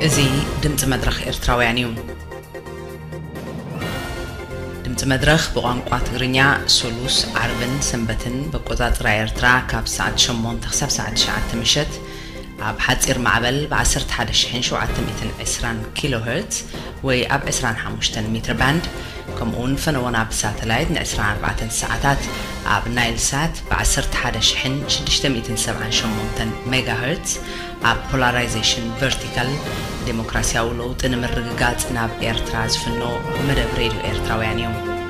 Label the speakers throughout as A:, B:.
A: እዚ ድምፂ መድረኽ ኤርትራውያን እዩ። ድምፂ መድረኽ ብቋንቋ ትግርኛ ሱሉስ፣ ዓርብን ሰንበትን በቆፃፅራ ኤርትራ ካብ ሰዓት ሸሞንተ ክሳብ ሰዓት ትሽዓተ ምሸት፣ ኣብ ሓጺር ማዕበል ብ ዓሰርተ ሓደ ሽሕን ሸውዓተ ሚእትን ዕስራን ኪሎ ሄርትዝ ወይ ኣብ ዕስራን ሓሙሽተን ሚትር ባንድ ከምኡውን ፈነወና ብ ሳተላይት ን ዕስራን ኣርባዕተን ሰዓታት ኣብ ናይል ሳት ብ ዓሰርተ ሓደ ሽሕን ሽዱሽተ ሚእትን ሰብዓን ሸሞንተን ሜጋ ሄርትዝ ኣብ ፖላራይዜሽን ቨርቲካል ደሞክራሲያዊ ለውጢ ንምርግጋጽ ናብ ኤርትራ ዝፍኖ መደብ ሬድዮ ኤርትራውያን እዩ።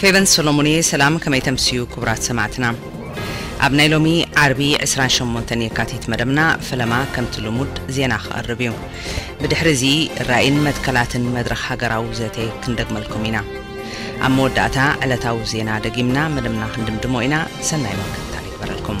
A: ፌቨን ሰሎሙን'የ ሰላም ከመይ ተምስዩ ክቡራት ሰማዕትና ኣብ ናይ ሎሚ ዓርቢ ዕስራን ሸሞንተን የካቲት መደብና ፈለማ ከምቲ ልሙድ ዜና ክቐርብ እዩ ብድሕሪ እዚ ራኢን መትከላትን መድረኽ ሃገራዊ ዘተ ክንደግመልኩም ኢና ኣብ መወዳእታ ዕለታዊ ዜና ደጊምና መደብና ክንድምድሞ ኢና ሰናይ ምክትታል ይግበረልኩም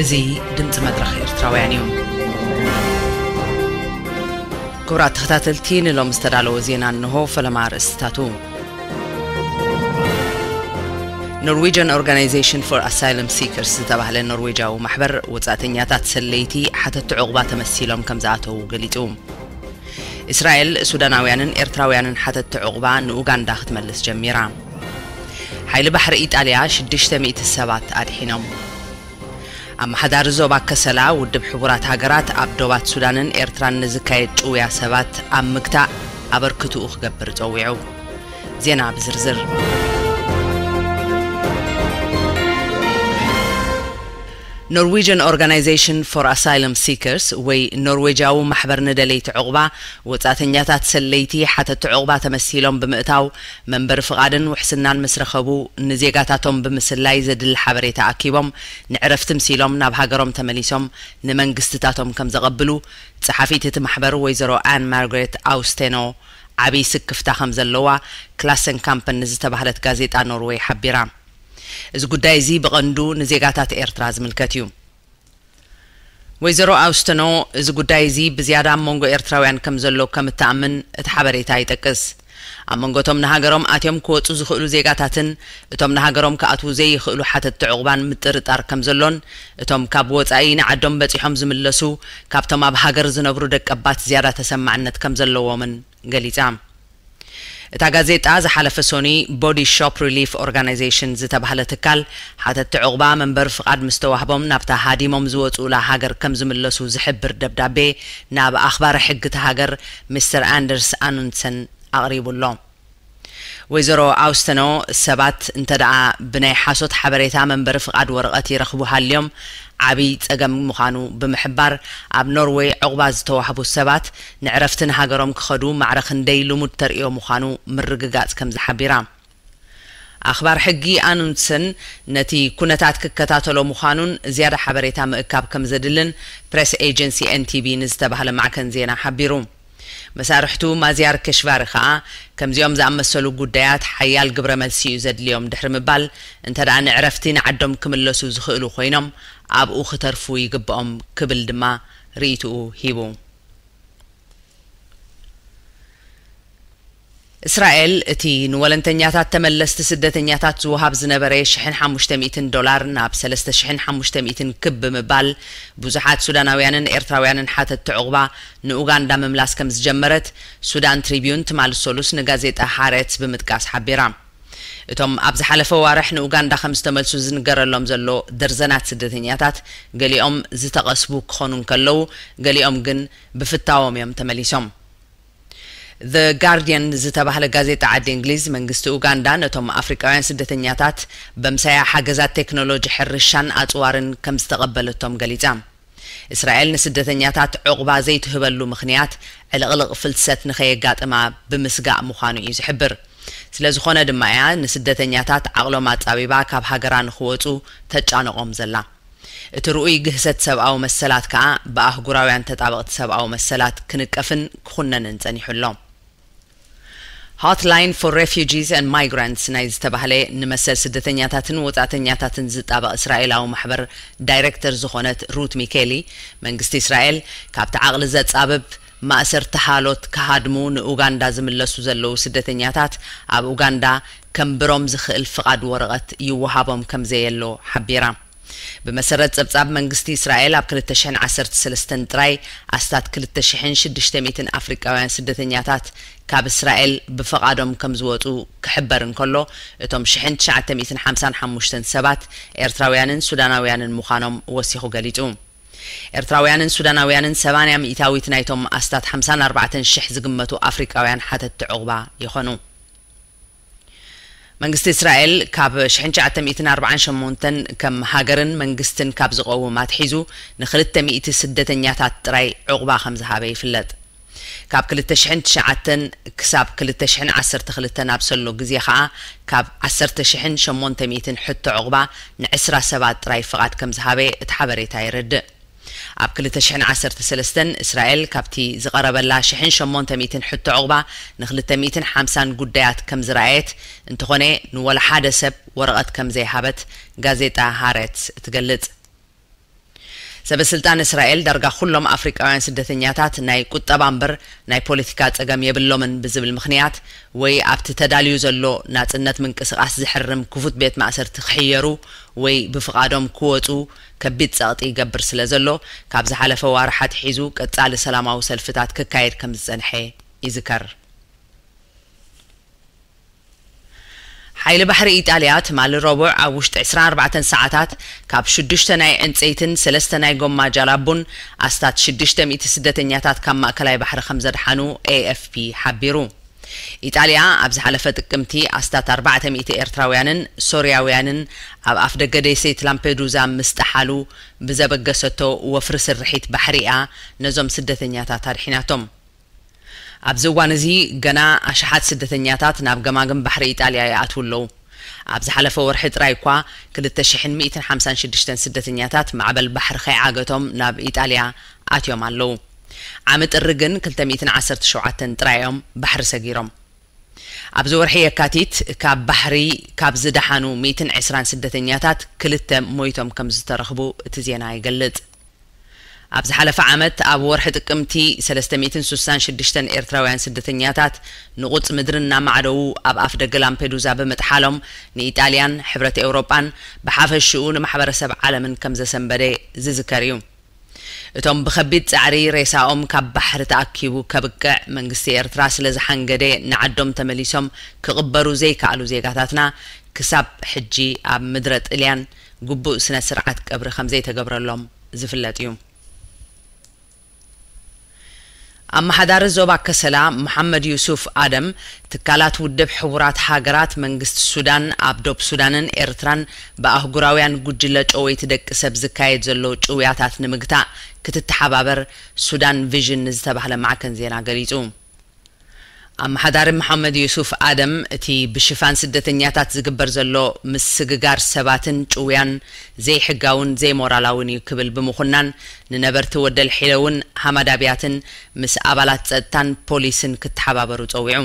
A: እዚ ድምጺ መድረኽ ኤርትራውያን እዩ። ክቡራት ተኸታተልቲ ንሎም ዝተዳለወ ዜና እንሆ ፈለማ ኣርእስትታቱ ኖርዌጅን ኦርጋናይዜሽን ፎር ኣሳይለም ሲከርስ ዝተባህለ ኖርዌጃዊ ማሕበር ወፃእተኛታት ሰለይቲ ሓተቲ ዕቑባ ተመሲሎም ከም ዝኣተዉ ገሊፁ እስራኤል፣ ሱዳናውያንን ኤርትራውያንን ሓተትቲ ዑቕባ ንኡጋንዳ ክትመልስ ጀሚራ። ሓይሊ ባሕሪ ኢጣልያ ሽዱሽተ ሚእቲ ሰባት ኣድሒኖም። ኣመሓዳሪ ዞባ ከሰላ ውድብ ሕቡራት ሃገራት ኣብ ዶባት ሱዳንን ኤርትራን ንዝካየድ ጭውያ ሰባት ኣብ ምግታእ ኣበርክትኡ ክገብር ጸዊዑ። ዜና ብዝርዝር። ኖርዊጅን ኦርጋናይዘሽን ፎር ኣሳይለም ሲከርስ ወይ ኖርዌጃዊ ማሕበር ንደለይቲ ዑቕባ ወጻእተኛታት ሰለይቲ ሓተቲ ዑቕባ ተመሲሎም ብምእታው መንበሪ ፍቓድን ውሕስናን ምስ ረኸቡ ንዜጋታቶም ብምስላይ ዘድሊ ሓበሬታ ኣኪቦም ንዕረፍቲ ምሲሎም ናብ ሃገሮም ተመሊሶም ንመንግስትታቶም ከምዘቐብሉ ጸሓፊት እቲ ማሕበር ወይዘሮ ኣን ማርግሬት ኣውስቴኖ ዓብይ ስክፍታ ከምዘለዋ ክላሰንካምፐን ንዝተባህለት ጋዜጣ ኖርወይ ሓቢራ። እዚ ጉዳይ እዚ ብቐንዱ ንዜጋታት ኤርትራ ዝምልከት እዩ። ወይዘሮ ኣውስተኖ፣ እዚ ጉዳይ እዚ ብዝያዳ ኣብ መንጎ ኤርትራውያን ከም ዘሎ ከም እትኣምን እቲ ሓበሬታ ይጠቅስ። ኣብ መንጎ እቶም ንሃገሮም ኣትዮም ክወጹ ዝኽእሉ ዜጋታትን እቶም ንሃገሮም ክኣትዉ ዘይኽእሉ ሓተትቲ ዑቕባን ምጥርጣር ከም ዘሎን እቶም ካብ ወጻኢ ንዓዶም በጺሖም ዝምለሱ ካብቶም ኣብ ሃገር ዝነብሩ ደቀባት ዝያዳ ተሰማዕነት ከም ዘለዎምን ገሊጻ። እታ ጋዜጣ ዝሓለፈ ሶኑይ ቦዲ ሾፕ ሪሊፍ ኦርጋናይዜሽን ዝተባህለ ትካል ሓተትቲ ዑቕባ መንበሪ ፍቓድ ምስ ተዋህቦም ናብታ ሃዲሞም ዝወጽኡላ ሃገር ከም ዝምለሱ ዝሕብር ደብዳቤ ናብ ኣኽባሪ ሕጊ እታ ሃገር ሚስተር ኣንደርስ ኣኑንድሰን ኣቕሪቡ ኣሎ። ወይዘሮ ኣውስተኖ ሰባት እንተድኣ ብናይ ሓሶት ሓበሬታ መንበሪ ፍቓድ ወረቐት ይረኽቡ ሃልዮም ዓብይ ፀገም ምዃኑ ብምሕባር፣ ኣብ ኖርዌይ ዑቕባ ዝተዋህቡ ሰባት ንዕረፍቲ ንሃገሮም ክኸዱ ማዕረ ክንደይ ልሙድ ተርእዮ ምዃኑ ምርግጋፅ ከምዚ ሓቢራ። ኣኽባር ሕጊ ኣኑንድሰን ነቲ ኩነታት ክከታተሎ ምዃኑን ዝያዳ ሓበሬታ ምእካብ ከምዘድልን ፕሬስ ኤጀንሲ ኤንቲቢ ንዝተባህለ ማዕከን ዜና ሓቢሩ። መሳርሕቱ ማዝያር ከሽቫሪ ከኣ፣ ከምዚኦም ዝኣመሰሉ ጉዳያት ሓያል ግብረ መልሲ እዩ ዘድልዮም ድሕሪ ምባል፣ እንተደኣ ንዕረፍቲ ንዓዶም ክምለሱ ዝኽእሉ ኮይኖም፣ ኣብኡ ክተርፉ ይግበኦም ክብል ድማ ርእይትኡ ሂቡ። እስራኤል እቲ ንወለንተኛታት ተመለስቲ ስደተኛታት ዝወሃብ ዝነበረ ሽሕን ሓሙሽተ ሚእትን ዶላር ናብ ሰለስተ ሽሕን ሓሙሽተ ሚእትን ክብ ብምባል ብዙሓት ሱዳናውያንን ኤርትራውያንን ሓተትቲ ዑቕባ ንኡጋንዳ ምምላስ ከም ዝጀመረት ሱዳን ትሪብዩን ትማሊ ሰሉስ ንጋዜጣ ሃረትዝ ብምጥቃስ ሓቢራ። እቶም ኣብ ዝሓለፈ ኣዋርሕ ንኡጋንዳ ከም ዝተመልሱ ዝንገረሎም ዘሎ ደርዘናት ስደተኛታት ገሊኦም ዝተቐስቡ ክኾኑ እንከለዉ ገሊኦም ግን ብፍታዎም እዮም ተመሊሶም። The Guardian ዝተባህለ ጋዜጣ ዓዲ እንግሊዝ፣ መንግስቲ ኡጋንዳ ነቶም ኣፍሪቃውያን ስደተኛታት በምሳያ ሓገዛት ቴክኖሎጂ ሕርሻን ኣጽዋርን ከምዝተቐበለቶም ገሊጻ። እስራኤል ንስደተኛታት ዑቕባ ዘይትህበሉ ምኽንያት ዕልቕልቕ ፍልሰት ንከየጋጥማ ብምስጋእ ምዃኑ እዩ ዝሕብር። ስለዝኾነ ድማ እያ ንስደተኛታት ዓቕሎም ኣጻቢባ ካብ ሃገራ ንክወጹ ተጫንቖም ዘላ። እቲ ርኡይ ግህሰት ሰብኣዊ መሰላት ከኣ ብኣህጉራውያን ተጣበቕቲ ሰብኣዊ መሰላት ክንቀፍን ክኹነንን ጸኒሑ ኣሎ። Hotline for Refugees and Migrants ናይ ዝተባህለ ንመሰል ስደተኛታትን ወጻእተኛታትን ዝጣበቕ እስራኤላዊ ማሕበር ዳይረክተር ዝኾነት ሩት ሚኬሊ፣ መንግስቲ እስራኤል ካብቲ ዓቕሊ ዘጻብብ፣ ማእሰርቲ ሓሎት ክሃድሙ ንኡጋንዳ ዝምለሱ ዘለዉ ስደተኛታት ኣብ ኡጋንዳ ከንብሮም ዝኽእል ፍቓድ ወረቐት ይወሃቦም ከምዘየሎ ሓቢራ። ብመሰረት ጸብጻብ መንግስቲ እስራኤል ኣብ ክልተ ሽሕን ዓሰርተ ሰለስተን ጥራይ ኣስታት ክልተ ሽሕን ሽዱሽተ ሚእትን ኣፍሪቃውያን ስደተኛታት ካብ እስራኤል ብፈቓዶም ከምዝወጹ ክሕበር እንከሎ እቶም ሽሕን ትሽዓተ ሚእትን ሓምሳን ሓሙሽተን ሰባት ኤርትራውያንን ሱዳናውያንን ምዃኖም ወሲኹ ገሊጹ። ኤርትራውያንን ሱዳናውያንን ሰማንያ ሚኢታዊት ናይቶም ኣስታት ሓምሳን ኣርባዕተን ሽሕ ዝግመቱ ኣፍሪቃውያን ሓተትቲ ዑቕባ ይኾኑ። መንግስቲ እስራኤል ካብ ሽሕን ትሽዓተ ሚእትን ኣርብዓን ሸሞንተን ከም ሃገርን መንግስትን ካብ ዝቐውም ኣትሒዙ ንክልተ ሚእቲ ስደተኛታት ጥራይ ዑቕባ ከምዝሃበ ይፍለጥ። ካብ ክልተ ሽሕን ትሽዓተን ክሳብ ክልተ ሽሕን ዓሰርተ ክልተን ኣብ ሰሎ ግዜ ከኣ ካብ ዓሰርተ ሽሕን ሸሞንተ ሚእትን ሕቶ ዑቕባ ንዕስራ ሰባት ጥራይ ፍቓድ ከም ዝሃበ እቲ ሓበሬታ የረድእ። ኣብ ክልተ ሽሕን ዓሰርተ ሰለስተን እስራኤል ካብቲ ዝቐረበላ ሽሕን ሸሞንተ ሚእትን ሕቶ ዑቕባ ንክልተ ሚእትን ሓምሳን ጉዳያት ከም ዝረኣየት እንተኾነ ንወላ ሓደ ሰብ ወረቐት ከም ዘይሃበት ጋዜጣ ሃረትዝ ትገልጽ። ሰበስልጣን እስራኤል ዳርጋ ኩሎም ኣፍሪቃውያን ስደተኛታት ናይ ቁጠባ እምበር ናይ ፖለቲካ ጸገም የብሎምን ብዝብል ምኽንያት ወይ ኣብቲ ተዳልዩ ዘሎ ናጽነት ምንቅስቓስ ዝሕርም ክፉት ቤት ማእሰርቲ ክሕየሩ ወይ ብፍቓዶም ክወጹ ከቢድ ጸቕጢ ይገብር ስለዘሎ ካብ ዝሓለፈ ዋርሕ ኣትሒዙ ቀጻሊ ሰላማዊ ሰልፍታት ክካየድ ከምዝጸንሐ ይዝከር። ሓይሊ ባሕሪ ኢጣልያ ትማሊ ረቡዕ ኣብ ውሽጢ ዕስራን ኣርባዕተን ሰዓታት ካብ ሽዱሽተ ናይ ዕንጸይትን ሰለስተ ናይ ጎማ ጃላቡን ኣስታት ሽዱሽተ ሚእቲ ስደተኛታት ካብ ማእከላይ ባሕሪ ከምዘድሓኑ ኤኤፍፒ ሓቢሩ። ኢጣልያ ኣብ ዝሓለፈ ጥቅምቲ ኣስታት ኣርባዕተ ሚእቲ ኤርትራውያንን ሶርያውያንን ኣብ ኣፍደገ ደሴት ላምፔዱዛ ምስ ጠሓሉ ብዘበገሰቶ ወፍሪ ስርሒት ባሕሪ'ያ ነዞም ስደተኛታት ኣድሒናቶም። ኣብዚ እዋን እዚ ገና ኣሽሓት ስደተኛታት ናብ ገማግም ባሕሪ ኢጣልያ ይኣትዉ ኣለዉ። ኣብ ዝሓለፈ ወርሒ ጥራይ እኳ ክልተ ሽሕን ሚእትን ሓምሳን ሽዱሽተን ስደተኛታት ማዕበል ባሕሪ ከይዓገቶም ናብ ኢጣልያ ኣትዮም ኣለዉ። ዓሚ ጥሪ ግን ክልተ ሚእትን ዓሰርተ ሸውዓተን ጥራይ እዮም ባሕሪ ሰጊሮም። ኣብዚ ወርሒ የካቲት ካብ ባሕሪ ካብ ዝደሓኑ ሚእትን ዕስራን ስደተኛታት ክልተ ሞይቶም ከምዝተረኽቡ እቲ ዜና ይገልጽ። ኣብ ዝሓለፈ ዓመት ኣብ ወርሒ ጥቅምቲ ሰለስተ ሚእትን ስሳን ሽዱሽተን ኤርትራውያን ስደተኛታት ንቑጽ ምድሪ እናማዕደዉ ኣብ ኣፍደገ ላምፔዱዛ ብምጥሓሎም ንኢጣልያን ሕብረት ኤውሮጳን ብሓፈሽኡ ንማሕበረሰብ ዓለምን ከምዘሰንበደ ዝዝከር እዩ። እቶም ብከቢድ ጸዕሪ ሬሳኦም ካብ ባሕሪ ተኣኪቡ ከብቅዕ መንግስቲ ኤርትራ ስለ ዝሓንገደ ንዓዶም ተመሊሶም ክቕበሩ ዘይከኣሉ ዜጋታትና ክሳብ ሕጂ ኣብ ምድረ ጥልያን ግቡእ ስነ ስርዓት ቀብሪ ከምዘይተገብረሎም ዝፍለጥ እዩ። ኣመሓዳሪ ዞባ ከሰላ መሓመድ ዩሱፍ ኣደም፣ ትካላት ውድብ ሕቡራት ሃገራት፣ መንግስቲ ሱዳን፣ ኣብ ዶብ ሱዳንን ኤርትራን ብኣህጉራውያን ጉጅለ ጨወይቲ ደቂ ሰብ ዝካየድ ዘሎ ጭውያታት ንምግታእ ክትተሓባበር ሱዳን ቪዥን ንዝተባህለ ማዕከን ዜና ገሊጹ። ኣመሓዳሪ መሓመድ ዩሱፍ ኣደም፣ እቲ ብሽፋን ስደተኛታት ዝግበር ዘሎ ምስግጋር ሰባትን ጭውያን ዘይሕጋውን ዘይሞራላውን እዩ ክብል ብምኹናን፣ ንነበርቲ ወደልሒለውን ሃማድ ኣብያትን ምስ ኣባላት ጸጥታን ፖሊስን ክተሓባበሩ ጸዊዑ።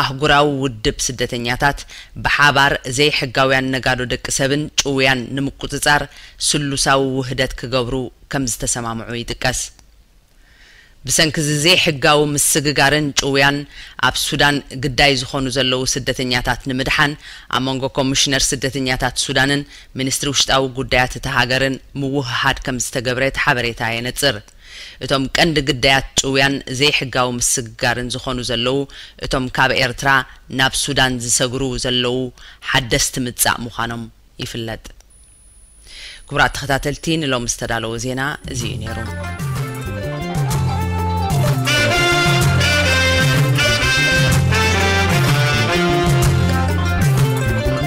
A: ኣህጉራዊ ውድብ ስደተኛታት ብሓባር ዘይሕጋውያን ነጋዶ ደቂ ሰብን ጭውያን ንምቁጽጻር ስሉሳዊ ውህደት ክገብሩ ከም ዝተሰማምዑ ይጥቀስ። ብሰንኪ'ዚ ዘይሕጋዊ ምስግጋርን ጭውያን ኣብ ሱዳን ግዳይ ዝኾኑ ዘለዉ ስደተኛታት ንምድሓን ኣብ መንጎ ኮሚሽነር ስደተኛታት ሱዳንን ሚኒስትሪ ውሽጣዊ ጉዳያት እታ ሃገርን ምውህሃድ ከም ዝተገብረ እቲ ሓበሬታ የነጽር። እቶም ቀንዲ ግዳያት ጭውያን ዘይሕጋዊ ምስግጋርን ዝኾኑ ዘለዉ እቶም ካብ ኤርትራ ናብ ሱዳን ዝሰግሩ ዘለዉ ሓደስቲ ምጻእ ምዃኖም ይፍለጥ። ክቡራት ተኸታተልቲ ንሎሚ ዝተዳለወ ዜና እዚ እዩ ነይሩ።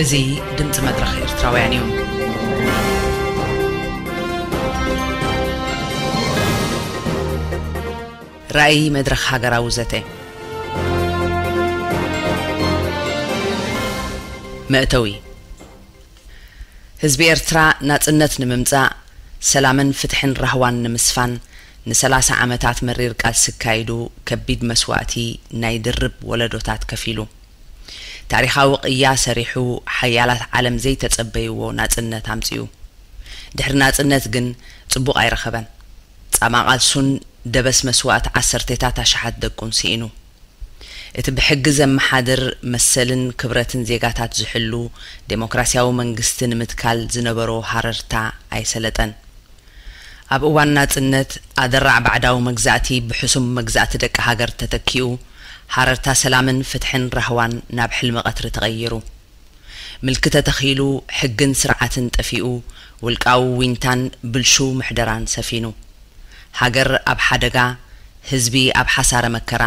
A: እዚ ድምፂ መድረኽ ኤርትራውያን እዩ። ራእይ መድረኽ ሃገራዊ ዘተ መእተዊ ህዝቢ ኤርትራ ናጽነት ንምምጻእ፣ ሰላምን ፍትሕን ራህዋን ንምስፋን ንሰላሳ ዓመታት መሪር ቃልሲ ኣካይዱ ከቢድ መስዋእቲ ናይ ድርብ ወለዶታት ከፊሉ። ታሪኻዊ ቅያ ሰሪሑ ሓያላት ዓለም ዘይተጸበይዎ ናጽነት ኣምጺኡ። ድሕሪ ናጽነት ግን ጽቡቕ ኣይረኸበን። ጻማ ቃልሱን ደበስ መስዋእት ዓሰርቴታት ኣሽሓት ደቁን ስኢኑ። እቲ ብሕጊ ዘመሓድር፣ መሰልን ክብረትን ዜጋታት ዝሕሉ ደሞክራስያዊ መንግስቲ ንምትካል ዝነበሮ ሃረርታ ኣይሰለጠን። ኣብ እዋን ናጽነት፣ ኣደራዕ ባዕዳዊ መግዛእቲ ብሕሱም መግዛእቲ ደቂ ሃገር ተተኪኡ፣ ሃረርታ ሰላምን ፍትሕን ራህዋን ናብ ሕልሚ ቀትሪ ተቐይሩ። ምልኪ ተተኺሉ፣ ሕግን ስርዓትን ጠፊኡ፣ ውልቃዊ ዊንታን ብልሹው ምሕደራን ሰፊኑ። ሃገር ኣብ ሓደጋ፣ ህዝቢ ኣብ ሓሳረ መከራ፣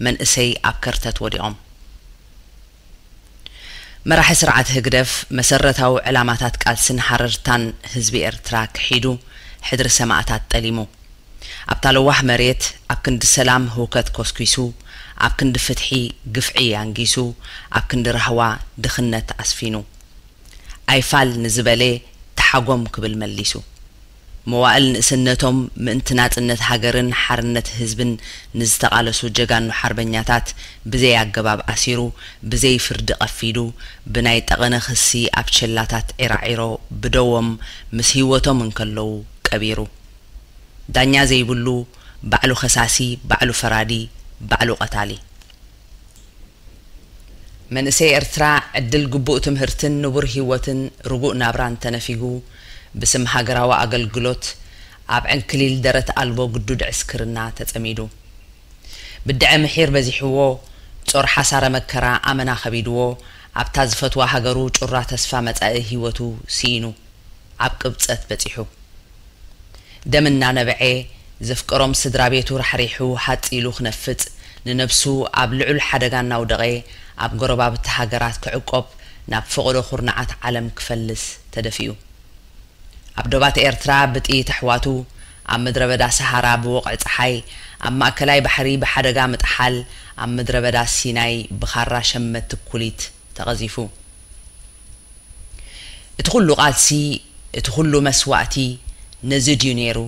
A: መንእሰይ ኣብ ከርተት ወዲቖም። መራሒ ስርዓት ህግደፍ፣ መሰረታዊ ዕላማታት ቃልስን ሃረርታን ህዝቢ ኤርትራ ክሒዱ፣ ሕድሪ ሰማእታት ጠሊሙ። ኣብታ ለዋህ መሬት ኣብ ክንዲ ሰላም ህውከት ኮስኲሱ፣ ኣብ ክንዲ ፍትሒ ግፍዒ ኣንጊሱ፣ ኣብ ክንዲ ራህዋ ድኽነት ኣስፊኑ። ኣይፋል ንዝበለ ተሓጎም ክብል መሊሱ። መዋእል ንእስነቶም ምእንቲ ናጽነት ሃገርን ሓርነት ህዝብን ንዝተቓለሱ ጀጋኑ ሓርበኛታት ብዘይ ኣገባብ ኣሲሩ፣ ብዘይ ፍርዲ ቀፊዱ፣ ብናይ ጠቐነ ክሲ ኣብ ቸላታት ዒራዒሮ ብደዎም ምስ ህይወቶም እንከለዉ ቀቢሩ። ዳኛ ዘይብሉ ባዕሉ ከሳሲ ባዕሉ ፈራዲ ባዕሉ ቀታሊ። መንእሰይ ኤርትራ ዕድል ግቡእ ትምህርትን ንቡር ሂወትን ርጉእ ናብራን ተነፊጉ ብስም ሃገራዊ ኣገልግሎት ኣብ ዕንክሊል ደረት ኣልቦ ግዱድ ዕስክርና ተጸሚዱ ብድዐ ምሒር በዚሕዎ ጾር ሓሳረ መከራ ኣመና ከቢድዎ ኣብታ ዝፈትዋ ሃገሩ ጩራ ተስፋ መጻኢ ሂወቱ ስኢኑ ኣብ ቅብጸት በጺሑ ደም እናነበዔ ዘፍቀሮም ስድራ ቤቱ ራሕሪሑ ሃጽ ኢሉ ክነፍጽ፣ ንነብሱ ኣብ ልዑል ሓደጋ እናውደቐ ኣብ ጎረባብቲ ሃገራት ክዕቆብ ናብ ፈቐዶ ኩርናዓት ዓለም ክፈልስ ተደፊኡ። ኣብ ዶባት ኤርትራ ብጥይት ኣሕዋቱ፣ ኣብ ምድረ በዳ ሰሃራ ብወቕዒ ጸሓይ፣ ኣብ ማእከላይ ባሕሪ ብሓደጋ ምጥሓል፣ ኣብ ምድረ በዳ ሲናይ ብኻራ ሸመትቲ ኩሊት፣ ተቐዚፉ። እቲ ኹሉ ቃልሲ፣ እቲ ኹሉ መስዋእቲ ነዚ ድዩ ነይሩ?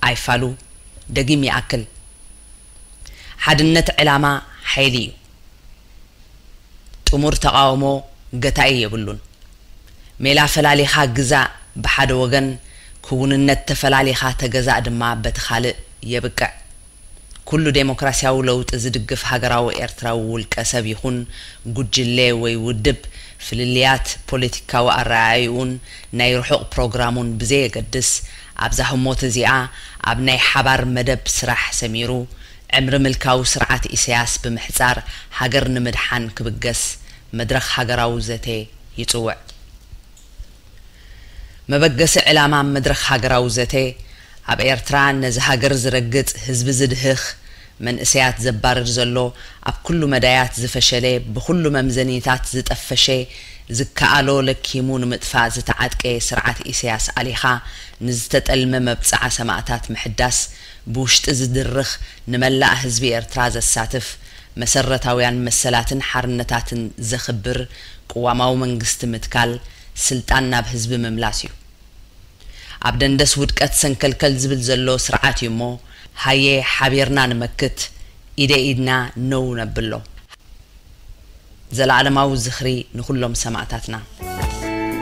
A: ኣይፋሉ፣ ደጊም ይኣክል። ሓድነት ዕላማ ሓይሊ እዩ። ጥሙር ተቓውሞ ገታኢ የብሉን። ሜላ ፈላሊኻ ግዛእ ብሓደ ወገን፣ ክውንነት ተፈላሊኻ ተገዛእ ድማ በቲ ካልእ የብቅዕ። ኩሉ ደሞክራስያዊ ለውጢ ዝድግፍ ሃገራዊ ኤርትራዊ ውልቀ ሰብ ይኹን ጉጅለ ወይ ውድብ፣ ፍልልያት ፖለቲካዊ ኣረኣእይኡን ናይ ርሑቕ ፕሮግራሙን ብዘየገድስ፣ ኣብዛ ህሞት እዚኣ ኣብ ናይ ሓባር መደብ ስራሕ ሰሚሩ፣ ዕምሪ ምልካዊ ስርዓት ኢሰያስ ብምሕጻር ሃገር ንምድሓን ክብገስ መድረኽ ሃገራዊ ዘተ ይጽውዕ። መበገሲ ዕላማ መድረኽ ሃገራዊ ዘተ፣ ኣብ ኤርትራ ነዚ ሃገር ዝረግጽ፣ ህዝቢ ዝድህኽ፣ መንእሰያት ዘባርር ዘሎ፣ ኣብ ኩሉ መዳያት ዝፈሸለ፣ ብኹሉ መምዘኒታት ዝጠፈሸ፣ ዝከኣሎ ለኪሙ ንምጥፋእ ዝተዓጥቀ ስርዓት ኢሰያስ ኣሊኻ፣ ንዝተጠልመ መብጽዓ ሰማእታት ምሕዳስ፣ ብውሽጢ ዝድርኽ፣ ንመላእ ህዝቢ ኤርትራ ዘሳትፍ፣ መሰረታውያን መሰላትን ሓርነታትን ዘኽብር፣ ቅዋማዊ መንግስቲ ምትካል ስልጣን ናብ ህዝቢ ምምላስ እዩ። ኣብ ደንደስ ውድቀት ሰንከልከል ዝብል ዘሎ ስርዓት እዩ እሞ ሃየ ሓቢርና ንመክት ኢደ ኢድና ነው ነብሎ። ዘለኣለማዊ ዝኽሪ ንኹሎም ሰማእታትና!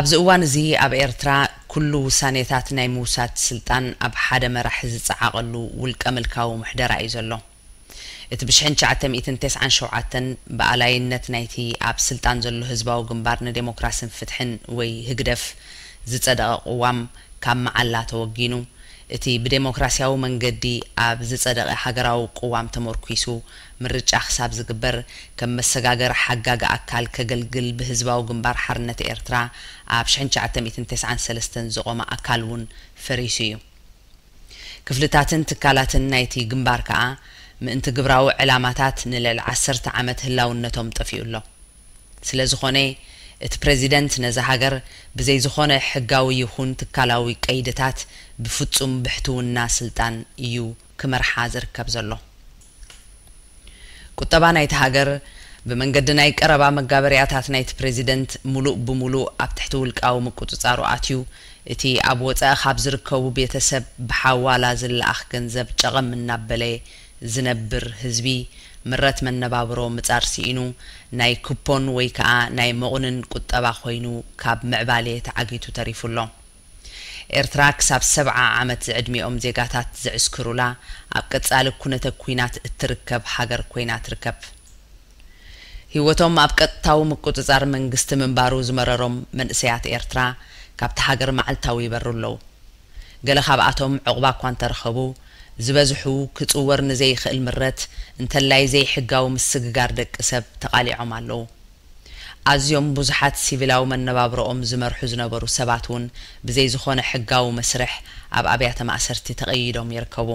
A: ኣብዚ እዋን እዚ ኣብ ኤርትራ ኩሉ ውሳኔታት ናይ ምውሳድ ስልጣን ኣብ ሓደ መራሒ ዝጸዓቐሉ ውልቀ ምልካዊ ምሕደራ እዩ ዘሎ። እቲ ብሽሕን ትሽዓተ ሚእትን ቴስዓን ሸውዓተን ብኣላይነት ናይቲ ኣብ ስልጣን ዘሎ ህዝባዊ ግንባር ንዴሞክራሲን ፍትሕን ወይ ህግደፍ ዝጸደቐ ቅዋም ካብ መዓላ ተወጊኑ እቲ ብዴሞክራሲያዊ መንገዲ ኣብ ዝጸደቐ ሃገራዊ ቅዋም ተሞርኲሱ ምርጫ ክሳብ ዝግበር ከም መሰጋገሪ ሓጋጊ ኣካል ከገልግል ብህዝባዊ ግንባር ሓርነት ኤርትራ ኣብ ሽሕን ትሽዓተ ሚእትን ተስዓን ሰለስተን ዝቖመ ኣካል እውን ፈሪሱ እዩ። ክፍልታትን ትካላትን ናይቲ ግንባር ከኣ ምእንቲ ግብራዊ ዕላማታት ንልዕሊ ዓሰርተ ዓመት ህላውነቶም ጠፊኡ ኣሎ። ስለ ዝኾነ እቲ ፕረዚደንት ነዛ ሃገር ብዘይ ዝኾነ ሕጋዊ ይኹን ትካላዊ ቀይድታት ብፍጹም ብሕትውና ስልጣን እዩ ክመርሓ ዝርከብ ዘሎ። ቁጠባ ናይታ ሃገር ብመንገዲ ናይ ቀረባ መጋበርያታት ናይቲ ፕረዚደንት ሙሉእ ብሙሉእ ኣብ ትሕቲ ውልቃዊ ምቁጽጻሩ ኣትዩ፣ እቲ ኣብ ወጻኢ ካብ ዝርከቡ ቤተሰብ ብሓዋላ ዝለኣኽ ገንዘብ ጨቐም እናበለ ዝነብር ህዝቢ ምረት መነባብሮ ምጻር ስኢኑ ናይ ኩፖን ወይ ከኣ ናይ መቑንን ቁጠባ ኮይኑ ካብ ምዕባሌ ተዓጊቱ ተሪፉ ኣሎ። ኤርትራ ክሳብ ሰብዓ ዓመት ዝዕድሚኦም ዜጋታት ዝዕስክሩላ ኣብ ቀጻሊ ኩነተ ኩናት እትርከብ ሃገር ኮይና ትርከብ። ሂወቶም ኣብ ቀጥታዊ ምቁጽጻር መንግስቲ ምንባሩ ዝመረሮም መንእሰያት ኤርትራ ካብታ ሃገር መዓልታዊ ይበሩ ኣለዉ። ገለ ካብኣቶም ዑቕባ'ኳ እንተረኸቡ፣ ዝበዝሑ ክጽወር ንዘይክእል ምረት፣ እንተላይ ዘይሕጋዊ ምስግጋር ደቂ ሰብ ተቓሊዖም ኣለዉ። ኣዝዮም ብዙሓት ሲቪላዊ መነባብሮኦም ዝመርሑ ዝነበሩ ሰባት እውን ብዘይ ዝኾነ ሕጋዊ መስርሕ ኣብ ኣብያተ ማእሰርቲ ተቐይዶም ይርከቡ።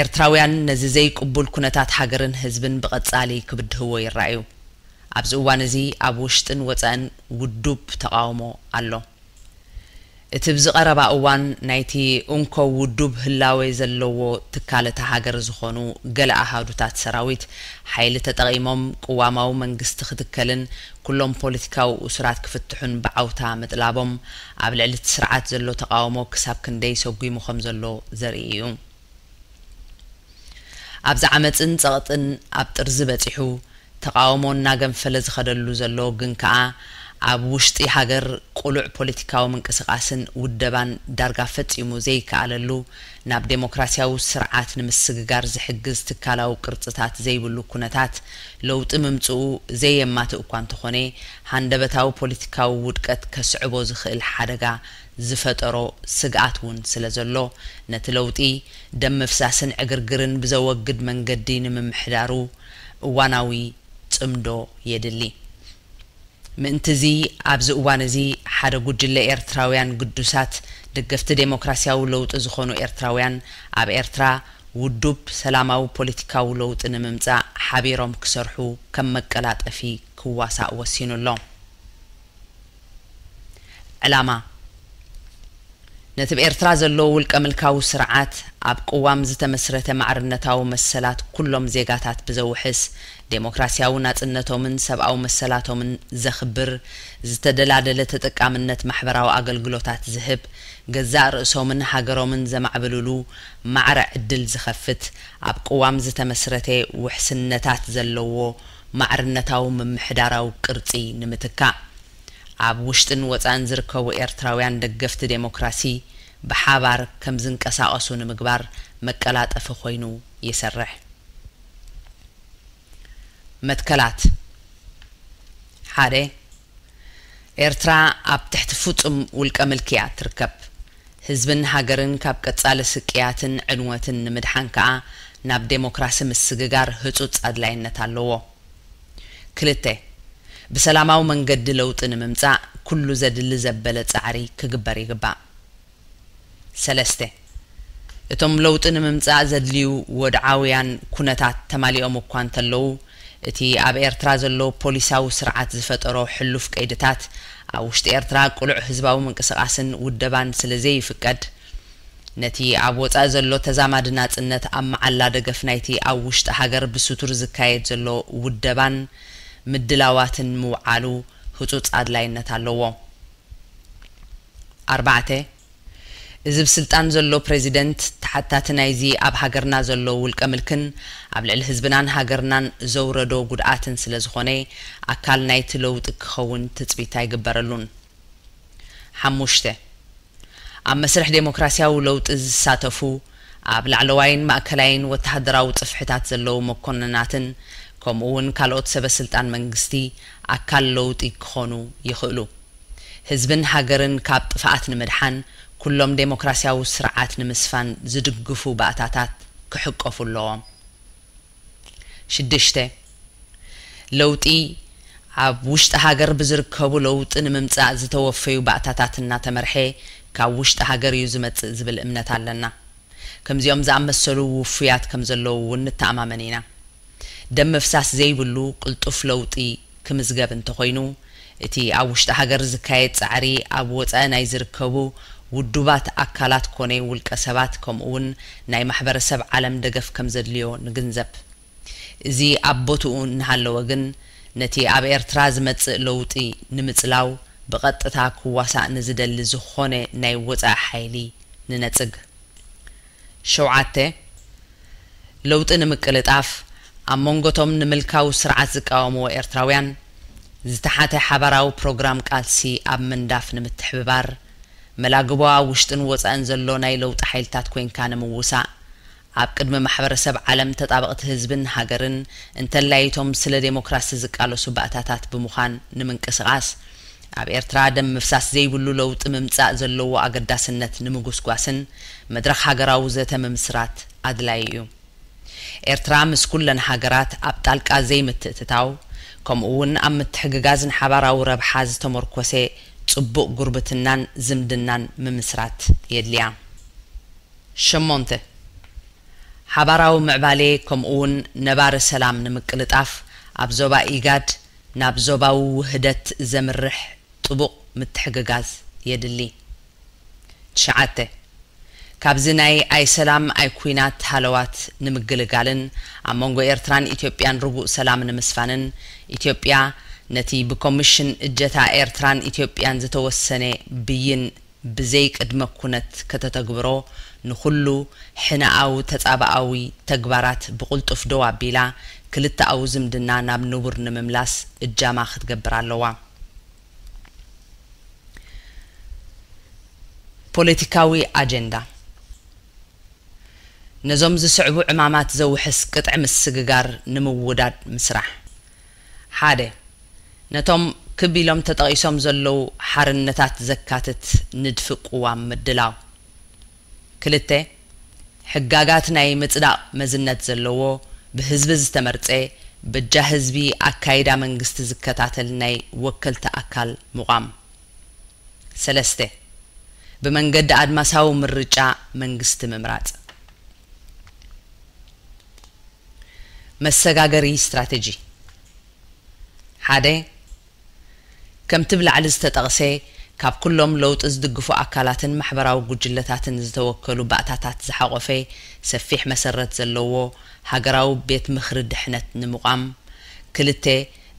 A: ኤርትራውያን ነዚ ዘይቅቡል ኩነታት ሃገርን ህዝብን ብቐጻሊ ክብድህዎ ይረኣዩ። ኣብዚ እዋን እዚ ኣብ ውሽጥን ወጻእን ውዱብ ተቓውሞ ኣሎ። እቲ ብዚ ቀረባ እዋን ናይቲ እንኮ ውዱብ ህላዌ ዘለዎ ትካል እታ ሃገር ዝኾኑ ገለ ኣሃዱታት ሰራዊት፣ ሓይሊ ተጠቒሞም ቅዋማዊ መንግስቲ ክትከልን ኩሎም ፖለቲካዊ እሱራት ክፍትሑን ብዓውታ ምጥላቦም፣ ኣብ ልዕሊ እቲ ስርዓት ዘሎ ተቓውሞ ክሳብ ክንደይ ሰጒሙ ከምዘሎ ዘርኢ እዩ። ኣብዚ ዓመጽን ጸቕጥን ኣብ ጥርዚ በጺሑ ተቓውሞ እናገንፈለ ዝኸደሉ ዘሎ ግን ከኣ ኣብ ውሽጢ ሃገር ቅሉዕ ፖለቲካዊ ምንቅስቓስን ውደባን ዳርጋ ፈጺሙ ዘይከኣለሉ ናብ ደሞክራሲያዊ ስርዓት ንምስግጋር ዝሕግዝ ትካላዊ ቅርጽታት ዘይብሉ ኩነታት ለውጢ ምምጽኡ ዘየማትእ'ኳ እንተኾነ ሃንደበታዊ ፖለቲካዊ ውድቀት ከስዕቦ ዝኽእል ሓደጋ ዝፈጠሮ ስግኣት እውን ስለዘሎ፣ ነቲ ለውጢ ደም ምፍሳስን ዕግርግርን ብዘወግድ መንገዲ ንምምሕዳሩ እዋናዊ ጽምዶ የድሊ። ምእንቲ'ዚ ኣብዚ እዋን እዚ ሓደ ጉጅለ ኤርትራውያን ግዱሳት ደገፍቲ ደሞክራስያዊ ለውጢ ዝኾኑ ኤርትራውያን ኣብ ኤርትራ ውዱብ ሰላማዊ ፖሊቲካዊ ለውጢ ንምምጻእ ሓቢሮም ክሰርሑ ከም መቀላጠፊ ክዋሳእ ወሲኑ ኣሎ። ዕላማ፣ ነቲ ብ ኤርትራ ዘሎ ውልቀምልካዊ ስርዓት ኣብ ቅዋም ዝተመስረተ ማዕርነታዊ መሰላት ኩሎም ዜጋታት ብዘውሕስ፣ ደሞክራሲያዊ ናጽነቶምን ሰብኣዊ መሰላቶምን ዘኽብር፣ ዝተደላደለ ተጠቃምነት ማሕበራዊ ኣገልግሎታት ዝህብ፣ ገዛእ ርእሶምን ሃገሮምን ዘማዕብልሉ ማዕረ ዕድል ዝኸፍት፣ ኣብ ቅዋም ዝተመስረተ ውሕስነታት ዘለዎ ማዕርነታዊ ምምሕዳራዊ ቅርጺ ንምትካእ፣ ኣብ ውሽጥን ወጻእን ዝርከቡ ኤርትራውያን ደገፍቲ ደሞክራሲ ብሓባር ከም ዝንቀሳቐሱ ንምግባር መቀላጠፊ ኮይኑ ይሰርሕ። መትከላት ሓደ። ኤርትራ ኣብ ትሕቲ ፍጹም ውልቀ ምልኪ'ያ እትርከብ። ህዝብን ሃገርን ካብ ቀጻሊ ስቅያትን ዕንወትን ንምድሓን ከኣ ናብ ደሞክራሲ ምስግጋር ህጹጽ ኣድላይነት ኣለዎ። ክልተ። ብሰላማዊ መንገዲ ለውጢ ንምምጻእ ኩሉ ዘድሊ ዘበለ ጻዕሪ ክግበር ይግባእ። ሰለስተ። እቶም ለውጢ ንምምጻእ ዘድልዩ ወድዓውያን ኩነታት ተማሊኦም እኳ እንተለዉ፣ እቲ ኣብ ኤርትራ ዘሎ ፖሊሳዊ ስርዓት ዝፈጠሮ ሕሉፍ ቀይድታት፣ ኣብ ውሽጢ ኤርትራ ቅሉዕ ህዝባዊ ምንቅስቓስን ውደባን ስለ ዘይፍቀድ፣ ነቲ ኣብ ወጻኢ ዘሎ ተዛማዲ ናጽነት ኣብ መዓላ ደገፍ ናይቲ ኣብ ውሽጢ ሃገር ብስቱር ዝካየድ ዘሎ ውደባን ምድላዋትን ምውዓሉ ህጹጽ ኣድላይነት ኣለዎ። ኣርባዕተ፣ እዚ ብ ስልጣን ዘሎ ፕረዚደንት ተሓታቲ ናይዚ ኣብ ሃገርና ዘሎ ውልቀ ምልክን ኣብ ልዕሊ ህዝብናን ሃገርናን ዘውረዶ ጉድኣትን ስለ ዝኾነ ኣካል ናይቲ ለውጢ ክኸውን ትጽቢት ኣይግበረሉን። ሓሙሽተ፣ ኣብ መስርሕ ደሞክራሲያዊ ለውጢ ዝሳተፉ፣ ኣብ ላዕለዋይን ማእከላይን ወተሃደራዊ ጽፍሕታት ዘለዉ መኮንናትን ከምኡ'ውን ካልኦት ሰበስልጣን መንግስቲ ኣካል ለውጢ ክኾኑ ይኽእሉ። ህዝብን ሃገርን ካብ ጥፍኣት ንምድሓን ኩሎም ደሞክራስያዊ ስርዓት ንምስፋን ዝድግፉ ባእታታት ክሕቀፉ ኣለዎም። ሽዱሽተ፣ ለውጢ ኣብ ውሽጢ ሃገር ብዝርከቡ ለውጢ ንምምፃእ ዝተወፈዩ ባእታታት እናተመርሐ ካብ ውሽጢ ሃገር እዩ ዝመፅእ ዝብል እምነት ኣለና። ከምዚኦም ዝኣመሰሉ ውፉያት ከምዘለዉ እውን ንተኣማመን ኢና። ደም ምፍሳስ ዘይብሉ ቅልጡፍ ለውጢ ክምዝገብ እንተኾይኑ፣ እቲ ኣብ ውሽጢ ሃገር ዝካየድ ጻዕሪ ኣብ ወጻኢ ናይ ዝርከቡ ውዱባት ኣካላት ኮነ ውልቀ ሰባት ከምኡ'ውን ናይ ማሕበረሰብ ዓለም ደገፍ ከምዘድልዮ ንግንዘብ። እዚ ኣብ ቦትኡ እናሃለወ ግን፣ ነቲ ኣብ ኤርትራ ዝመጽእ ለውጢ ንምጽላው ብቐጥታ ክዋሳእ ንዝደሊ ዝኾነ ናይ ወጻኢ ሓይሊ ንነጽግ። ሸውዓተ፣ ለውጢ ንምቅልጣፍ፣ ኣብ መንጎ'ቶም ንምልካዊ ስርዓት ዝቃወምዎ ኤርትራውያን ዝተሓተ ሓባራዊ ፕሮግራም ቃልሲ ኣብ ምንዳፍ ንምትሕብባር፣ መላግቦ ኣብ ውሽጥን ወጻእን ዘሎ ናይ ለውጢ ሓይልታት ኮይንካ ንምውሳእ፣ ኣብ ቅድሚ ማሕበረሰብ ዓለም ተጣበቕቲ ህዝብን ሃገርን፣ እንተላይ እቶም ስለ ደሞክራሲ ዝቃለሱ ባእታታት ብምዃን ንምንቅስቓስ፣ ኣብ ኤርትራ ደም ምፍሳስ ዘይብሉ ለውጢ ምምጻእ ዘለዎ ኣገዳስነት ንምጉስጓስን መድረኽ ሃገራዊ ዘተ ምምስራት ኣድላዪ እዩ። ኤርትራ ምስ ኩለን ሃገራት ኣብ ጣልቃ ዘይምትእትታው ከምኡ'ውን ኣብ ምትሕግጋዝን ሓባራዊ ረብሓ ዝተሞርኮሰ ጽቡቕ ጉርብትናን ዝምድናን ምምስራት የድልያ። ሸሞንተ፣ ሓባራዊ ምዕባሌ ከምኡ'ውን ነባሪ ሰላም ንምቅልጣፍ ኣብ ዞባ ኢጋድ ናብ ዞባዊ ውህደት ዘምርሕ ጥቡቕ ምትሕግጋዝ የድሊ። ትሽዓተ። ካብዚ ናይ ኣይ ሰላም ኣይ ኩናት ሃለዋት ንምግልጋልን ኣብ መንጎ ኤርትራን ኢትዮጵያን ርጉእ ሰላም ንምስፋንን፣ ኢትዮጵያ ነቲ ብኮምሽን እጀታ ኤርትራን ኢትዮጵያን ዝተወሰነ ብይን፣ ብዘይ ቅድመ ኩነት ከተተግብሮ ንኹሉ ሕነኣዊ ተጻብኣዊ ተግባራት ብቕልጡፍ ደው ኣቢላ ክልተኣዊ ዝምድና ናብ ንቡር ንምምላስ እጃማ ክትገብር ኣለዋ። ፖለቲካዊ ኣጀንዳ፣ ነዞም ዝስዕቡ ዕማማት ዘውሕስ ቅጥዒ ምስግጋር ንምውዳድ ምስራሕ። ሓደ፣ ነቶም ክብ ኢሎም ተጠቒሶም ዘለዉ ሓርነታት ዘካትት ንድፊ ቅዋም ምድላው። ክልተ፣ ሕጋጋት ናይ ምጽዳቕ መዝነት ዘለዎ፣ ብህዝቢ ዝተመርጸ፣ በጃ ህዝቢ ኣካይዳ መንግስቲ ዝከታተል ናይ ወከልቲ ኣካል ምቋም። ሰለስተ፣ ብመንገዲ ኣድማሳዊ ምርጫ መንግስቲ ምምራጽ። መሰጋገሪ ስትራተጂ ሓደ ከምቲ ብ ላዕሊ ዝተጠቕሰ ካብ ኩሎም ለውጢ ዝድግፉ ኣካላትን ማሕበራዊ ጉጅለታትን ዝተወከሉ ባእታታት ዝሓቖፈ ሰፊሕ መሰረት ዘለዎ ሃገራዊ ቤት ምኽሪ ድሕነት ንምቛም ክልተ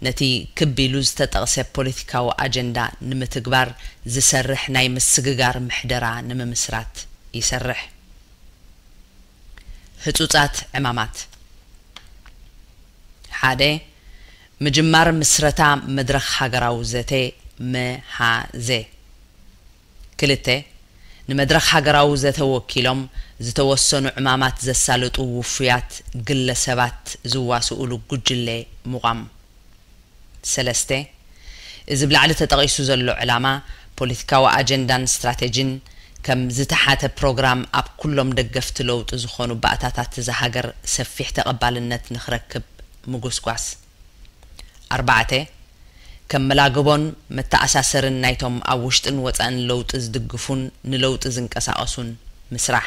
A: ነቲ ክብ ኢሉ ዝተጠቕሰ ፖለቲካዊ ኣጀንዳ ንምትግባር ዝሰርሕ ናይ ምስግጋር ምሕደራ ንምምስራት ይሰርሕ። ህጹጻት ዕማማት፣ ሓደ። ምጅማር ምስረታ መድረኽ ሃገራዊ ዘተ፣ መሃዘ፣ ክልተ። ንመድረኽ ሃገራዊ ዘተ ወኪሎም ዝተወሰኑ ዕማማት ዘሳልጡ ውፉያት ግለ ሰባት ዝዋስኡሉ ጉጅለ ምቋም። ሰለስተ፣ እዚ ብ ላዕሊ ተጠቒሱ ዘሎ ዕላማ፣ ፖለቲካዊ ኣጀንዳን ስትራቴጂን፣ ከም ዝተሓተ ፕሮግራም ኣብ ኩሎም ደገፍቲ ለውጢ ዝኾኑ ባእታታት እዛ ሃገር ሰፊሕ ተቐባልነት ንክረክብ ምጉስጓስ። ኣርባዕተ፣ ከም መላግቦን መተኣሳሰሪን ናይቶም ኣብ ውሽጥን ወፃእን ለውጢ ዝድግፉን ንለውጢ ዝንቀሳቐሱን ምስራሕ።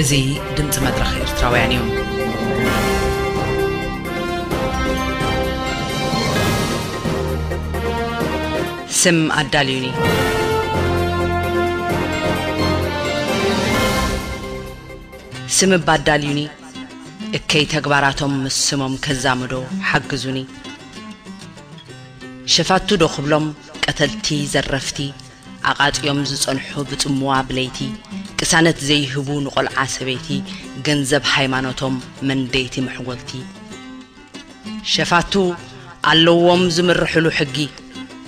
A: እዚ ድምጺ መድረኽ ኤርትራውያን እዩ። ስም ኣዳልዩኒ። ስም እባ ኣዳልዩኒ። እከይ ተግባራቶም ምስ ስሞም ከዛምዶ ሓግዙኒ። ሸፋቱ ዶ ክብሎም ቀተልቲ ዘረፍቲ ኣቓጽዮም ዝጸንሑ ብጽምዋ ብለይቲ ቅሳነት ዘይህቡ ንቆልዓ ሰበይቲ ገንዘብ ሃይማኖቶም መንደይቲ መሕጎልቲ ሸፋቱ ኣለዎም ዝምርሕሉ ሕጊ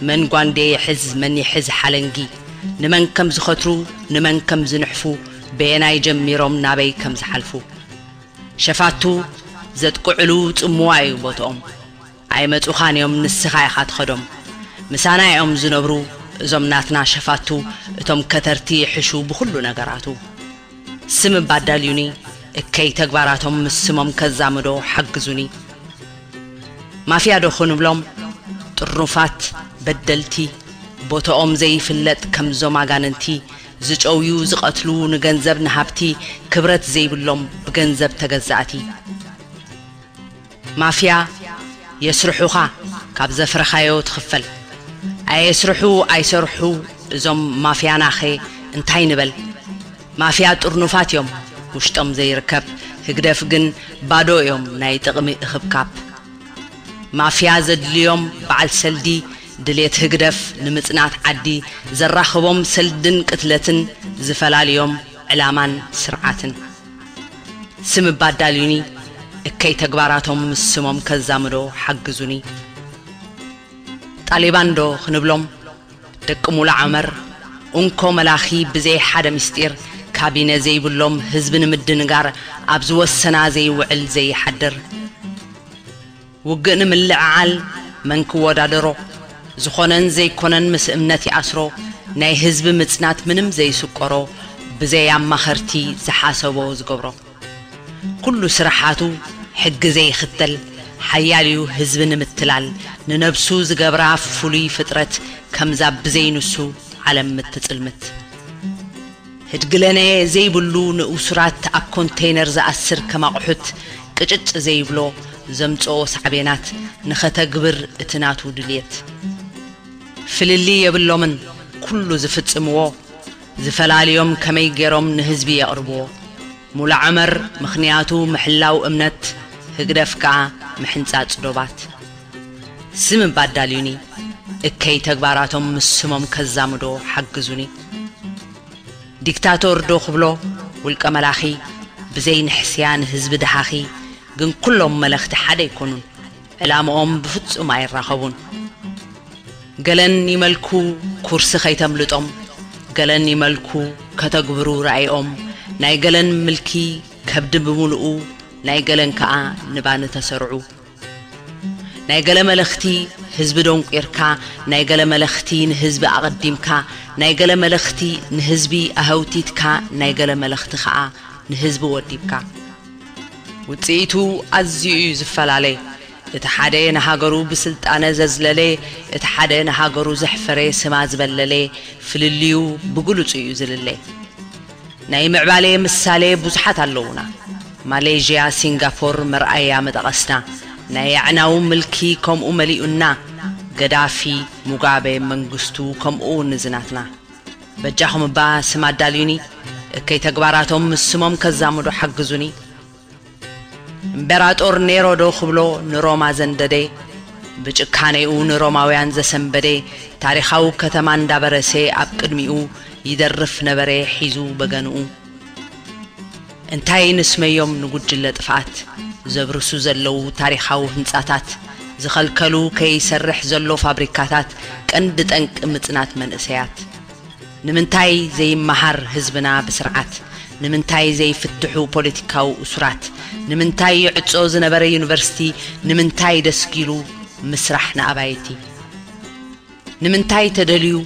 A: መን ጓንዴ ይሕዝ መን ይሕዝ ሓለንጊ ንመን ከም ዝኸትሩ ንመን ከም ዝንሕፉ በየናይ ጀሚሮም ናበይ ከም ዝሓልፉ ሸፋቱ ዘጥቅዕሉ ጽምዋ እዩ ቦትኦም ኣይመጹኻን እዮም ንስኻ ኢኻ ትኸዶም። ምሳና እዮም ዝነብሩ እዞም ናትና ሸፋቱ እቶም ከተርቲ ይሕሹ ብኹሉ ነገራቱ። ስም እባ ኣዳልዩኒ እከይ ተግባራቶም ምስ ስሞም ከዛምዶ ሓግዙኒ። ማፍያ ዶ ክንብሎም ጥርኑፋት በደልቲ ቦቶኦም ዘይፍለጥ ከምዞም ኣጋንንቲ ዝጨውዩ ዝቐትሉ ንገንዘብ ንሃብቲ ክብረት ዘይብሎም ብገንዘብ ተገዛእቲ። ማፍያ የስርሑኻ ካብ ዘፍረኻዮ ትኽፈል ኣየስርሑ ኣይሰርሑ እዞም ማፍያናኸ እንታይ ንበል ማፍያ ጥርኑፋት እዮም ውሽጦም ዘይርከብ ህግደፍ ግን ባዶ እዮም ናይ ጥቕሚ እኽብካብ ማፍያ ዘድልዮም በዓል ሰልዲ ድሌት ህግደፍ ንምጽናት ዓዲ ዘራኽቦም ሰልድን ቅትለትን ዝፈላልዮም ዕላማን ስርዓትን ስም እባ ኣዳልዩኒ እከይ ተግባራቶም ምስ ስሞም ከዛምዶ ሓግዙኒ ጣሌባን ዶ ክንብሎም ደቂ ሙሉ ዓመር ኡንኮ መላኺ ብዘይ ሓደ ምስጢር ካቢነ ዘይብሎም ህዝቢ ንምድንጋር ኣብ ዝወሰና ዘይውዕል ዘይሓድር ውግእ ንምልዕዓል መን ክወዳደሮ ዝኾነን ዘይኮነን ምስ እምነት ይኣስሮ ናይ ህዝቢ ምጽናት ምንም ዘይስቆሮ ብዘይ ኣማኸርቲ ዝሓሰቦ ዝገብሮ ኩሉ ስራሓቱ ሕጊ ዘይኽተል ሓያል እዩ ህዝቢ ንምትላል ንነብሱ ዝገብራ ፍሉይ ፍጥረት ከምዛ ብዘይ ንሱ ዓለም ምትጽልምት ህድግለነ ዘይብሉ ንእሱራት ኣብ ኮንተይነር ዝኣስር ከም ኣቑሑት ቅጭጭ ዘይብሎ ዘምጽኦ ሳዕቤናት ንኸተግብር እቲ ናቱ ድልየት ፍልልይ የብሎምን ኩሉ ዝፍጽምዎ ዝፈላልዮም ከመይ ጌሮም ንህዝቢ የቕርብዎ ሙሉዐመር ምኽንያቱ ምሕላው እምነት ህግደፍ ከኣ ምሕንጻጽ ዶባት ስም እባ ኣዳልዩኒ እከይ ተግባራቶም ምስ ስሞም ከዛምዶ ሓግዙኒ ዲክታቶር ዶ ክብሎ ውልቀ መላኺ ብዘይ ንሕስያ ንህዝቢ ደሃኺ ግን ኩሎም መለኽቲ ሓደ ኣይኮኑን ዕላምኦም ብፍጹም ኣይራኸቡን ገለን ይመልኩ ኩርሲ ከይተምልጦም ገለን ይመልኩ ከተግብሩ ራኢኦም ናይ ገለን ምልኪ ከብዲ ብምሉኡ ናይ ገለን ከኣ ንባኒ ተሰርዑ ናይ ገለ መለኽቲ ህዝቢ ደንቊርካ ናይ ገለ መለኽቲ ንህዝቢ ኣቐዲምካ ናይ ገለ መለኽቲ ንህዝቢ ኣሀውቲትካ ናይ ገለ መለኽቲ ከኣ ንህዝቢ ወዲብካ ውጽኢቱ ኣዝዩ እዩ ዝፈላለ እቲ ሓደ ንሃገሩ ብስልጣነ ዘዝለለ እቲ ሓደ ንሃገሩ ዘሕፈረ ስማ ዝበለለ ፍልልዩ ብግሉጹ እዩ ዝልለ። ናይ ምዕባሌ ምሳሌ ብዙሓት ኣለዉና ማሌዥያ ሲንጋፎር መርኣያ ምጠቐስና ናይ ኣዕናዊ ምልኪ ከምኡ መሊኡና ገዳፊ ሙጋቤ መንግስቱ ከምኡ ውን እዚ ናትና በጃኹም እባ ስም ኣዳልዩኒ እከይ ተግባራቶም ምስ ስሞም ከዛምዱ ሓግዙኒ እምቤራጦር ኔሮ ዶ ክብሎ ንሮማ ዘንደዴ ብጭካኔኡ ንሮማውያን ዘሰንበዴ ታሪኻዊ ከተማ እንዳበረሴ ኣብ ቅድሚኡ ይደርፍ ነበሬ ሒዙ በገንኡ እንታይ ንስመዮም ንጉጅለ ጥፍኣት ዘብርሱ ዘለዉ ታሪኻዊ ህንጻታት ዝኸልከሉ ከይሰርሕ ዘሎ ፋብሪካታት ቀንዲ ጠንቂ ምጽናት መንእሰያት ንምንታይ ዘይመሃር ህዝብና ብስርዓት? ንምንታይ ዘይፍትሑ ፖለቲካዊ እሱራት? ንምንታይ ይዕጾ ዝነበረ ዩኒቨርሲቲ ንምንታይ ደስጊሉ ምስራሕ ንኣባይቲ? ንምንታይ ተደልዩ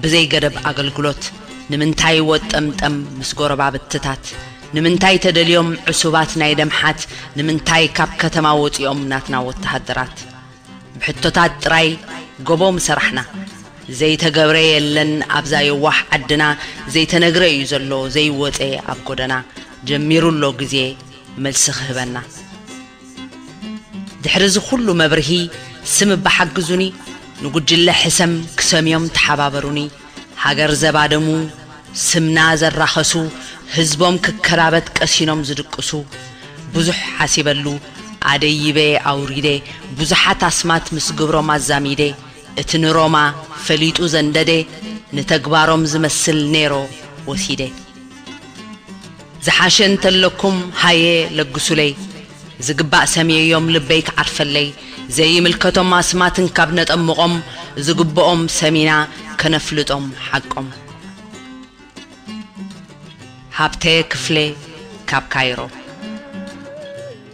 A: ብዘይ ገደብ ኣገልግሎት? ንምንታይ ወጠምጠም ምስ ጎረባብትታት? ንምንታይ ተደልዮም ዕሱባት ናይ ደምሓት? ንምንታይ ካብ ከተማ ወጺኦም ናትና ወተሃደራት? ብሕቶታት ጥራይ ጎቦ ምሰራሕና። ዘይተገብረ የለን ኣብዛ የዋሕ ዓድና ዘይተነግረ እዩ ዘሎ ዘይወፀ ኣብ ጎደና ጀሚሩ ኣሎ ግዜ መልሲ ክህበና። ድሕሪ እዚ ኩሉ መብርሂ ስም እባ ሓግዙኒ ንጉጅለ ሕሰም ክሰምዮም ተሓባበሩኒ። ሃገር ዘባደሙ፣ ስምና ዘራኸሱ፣ ህዝቦም ክከራበት ቀሲኖም ዝድቅሱ፣ ብዙሕ ሓሲበሉ ኣደይበ ኣውሪደ፣ ብዙሓት ኣስማት ምስ ግብሮም ኣዛሚደ፣ እቲ ንሮማ ፈሊጡ ዘንደደ፣ ንተግባሮም ዝመስል ኔሮ ወሲደ። ዝሓሸ እንተለኩም ሃየ ለግሱለይ ዝግባእ ሰምየዮም ልበይ ክዓርፈለይ ዘይምልከቶም ኣስማት እንካብ ነጠምቆም ዝግብኦም ሰሚና ከነፍልጦም ሓቆም። ሃብተ ክፍሌ ካብ ካይሮ።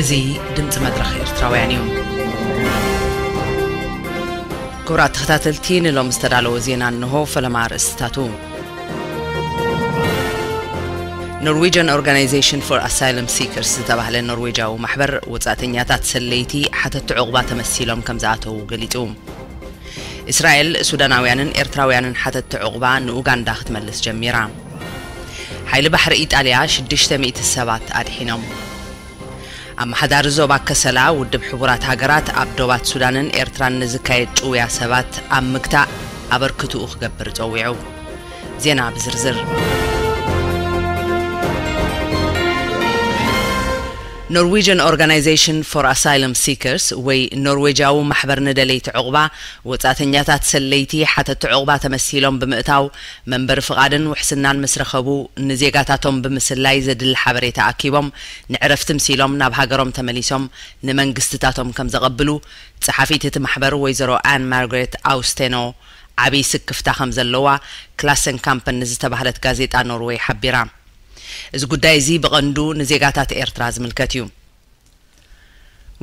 A: እዚ ድምጺ መድረኽ ኤርትራውያን እዩ። ክቡራት ተኸታተልቲ ንሎሚ ዝተዳለወ ዜና እንሆ ፈለማ ኣርእስትታቱ። ኖርዌጅን ኦርጋናይዜሽን ፎር ኣሳይለም ሲከርስ ዝተባህለ ኖርዌጃዊ ማሕበር ወጻእተኛታት ሰለይቲ ሓተቲ ዕቑባ ተመሲሎም ከም ዝኣተዉ ገሊጹ። እስራኤል፣ ሱዳናውያንን ኤርትራውያንን ሓተትቲ ዑቕባ ንኡጋንዳ ክትመልስ ጀሚራ። ሓይሊ ባሕሪ ኢጣልያ ሽዱሽተ ሚእቲ ሰባት ኣድሒኖም። ኣመሓዳሪ ዞባ ከሰላ ውድብ ሕቡራት ሃገራት ኣብ ዶባት ሱዳንን ኤርትራን ንዝካየድ ጭውያ ሰባት ኣብ ምግታእ ኣበርክትኡ ክገብር ጸዊዑ። ዜና ብዝርዝር። ኖርዊጅን ኦርጋናይዘሽን ፎር ኣሳይለም ሲከርስ ወይ ኖርዌጃዊ ማሕበር ንደለይቲ ዑቕባ፣ ወጻእተኛታት ሰለይቲ ሓተቲ ዑቕባ ተመሲሎም ብምእታው፣ መንበሪ ፍቓድን ውሕስናን ምስ ረኸቡ፣ ንዜጋታቶም ብምስላይ ዘድሊ ሓበሬታ ኣኪቦም ንዕረፍቲ ምሲሎም ናብ ሃገሮም ተመሊሶም ንመንግስትታቶም ከም ዘቐብሉ ጸሓፊት እቲ ማሕበር ወይዘሮ ኣን ማርግሬት ኣውስቴኖ ዓብይ ስክፍታ ከም ዘለዋ ክላሰንካምፐን ንዝተባህለት ጋዜጣ ኖርወይ ሓቢራ። እዚ ጉዳይ እዚ ብቐንዱ ንዜጋታት ኤርትራ ዝምልከት እዩ።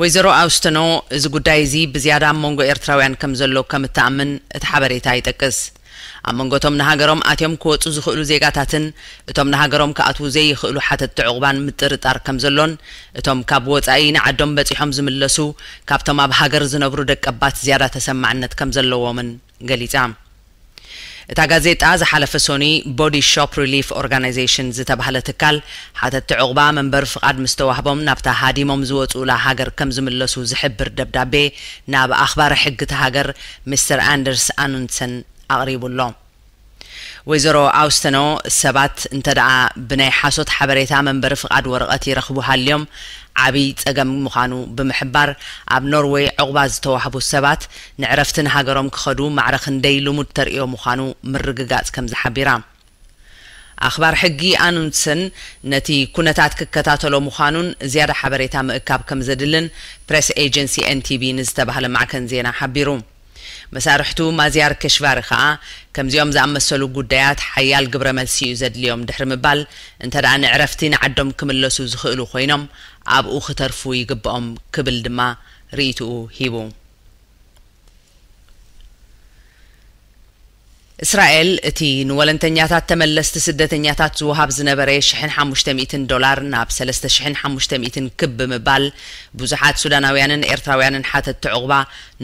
A: ወይዘሮ ኣውስተኖ እዚ ጉዳይ እዚ ብዝያዳ ኣብ መንጎ ኤርትራውያን ከም ዘሎ ከም እትኣምን እቲ ሓበሬታ ይጠቅስ። ኣብ መንጎ እቶም ንሃገሮም ኣትዮም ክወጹ ዝኽእሉ ዜጋታትን እቶም ንሃገሮም ክኣትዉ ዘይኽእሉ ሓተትቲ ዑቕባን ምጥርጣር ከም ዘሎን እቶም ካብ ወጻኢ ንዓዶም በጺሖም ዝምለሱ ካብቶም ኣብ ሃገር ዝነብሩ ደቀባት ዝያዳ ተሰማዕነት ከም ዘለዎምን ገሊጻ። እታ ጋዜጣ ዝሓለፈ ሶኑይ ቦዲ ሾፕ ሪሊፍ ኦርጋናይዜሽን ዝተባህለ ትካል ሓተትቲ ዑቕባ መንበሪ ፍቓድ ምስ ተዋህቦም ናብታ ሃዲሞም ዝወጽኡላ ሃገር ከም ዝምለሱ ዝሕብር ደብዳቤ ናብ ኣኽባሪ ሕጊ እታ ሃገር ሚስተር ኣንደርስ ኣኑንድሰን ኣቕሪቡ ኣሎ። ወይዘሮ ኣውስተኖ ሰባት እንተድኣ ብናይ ሓሶት ሓበሬታ መንበሪ ፍቓድ ወረቐት ይረኽቡ ሃልዮም ዓቢ ጸገም ምዃኑ ብምሕባር፣ ኣብ ኖርወይ ዑቕባ ዝተዋህቡ ሰባት ንዕረፍቲ ንሃገሮም ክኸዱ ማዕረ ክንደይ ልሙድ ተርእዮ ምዃኑ ምርግጋጽ ከምዚ ሓቢራ። ኣኽባር ሕጊ ኣኑንድሰን ነቲ ኩነታት ክከታተሎ ምዃኑን ዝያዳ ሓበሬታ ምእካብ ከምዘድልን ፕረስ ኤጀንሲ ኤንቲቢ ንዝተባህለ ማዕከን ዜና ሓቢሩ። መሳርሕቱ ማዝያር ከሽቫሪ ከኣ፣ ከምዚኦም ዝኣመሰሉ ጉዳያት ሓያል ግብረ መልሲ እዩ ዘድልዮም ድሕሪ ምባል፣ እንተደኣ ንዕረፍቲ ንዓዶም ክምለሱ ዝኽእሉ ኮይኖም፣ ኣብኡ ክተርፉ ይግበኦም ክብል ድማ ርእይትኡ ሂቡ። እስራኤል እቲ ንወለንተኛታት ተመለስቲ ስደተኛታት ዝወሃብ ዝነበረ ሽሕን ሓሙሽተ ሚእትን ዶላር ናብ ሰለስተ ሽሕን ሓሙሽተ ሚእትን ክብ ብምባል ብዙሓት ሱዳናውያንን ኤርትራውያንን ሓተትቲ ዑቕባ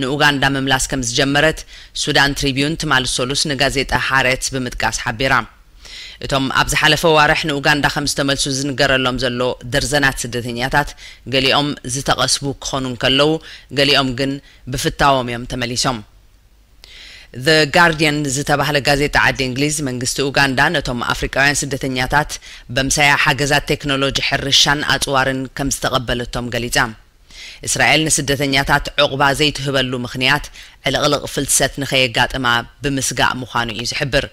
A: ንኡጋንዳ ምምላስ ከምዝጀመረት ሱዳን ትሪብዩን ትማል ሰሉስ ንጋዜጣ ሃረትዝ ብምጥቃስ ሓቢራ። እቶም ኣብ ዝሓለፈ ኣዋርሕ ንኡጋንዳ ከምዝተመልሱ ዝንገረሎም ዘሎ ደርዘናት ስደተኛታት ገሊኦም ዝተቐስቡ ክኾኑ እንከለዉ ገሊኦም ግን ብፍታዎም እዮም ተመሊሶም። The Guardian ዝተባህለ ጋዜጣ ዓዲ እንግሊዝ፣ መንግስቲ ኡጋንዳ ነቶም ኣፍሪቃውያን ስደተኛታት በምሳያ ሓገዛት ቴክኖሎጂ ሕርሻን ኣጽዋርን ከምዝተቐበለቶም ገሊጻ። እስራኤል ንስደተኛታት ዑቕባ ዘይትህበሉ ምኽንያት ዕልቕልቕ ፍልሰት ንከየጋጥማ ብምስጋእ ምዃኑ እዩ ዝሕብር።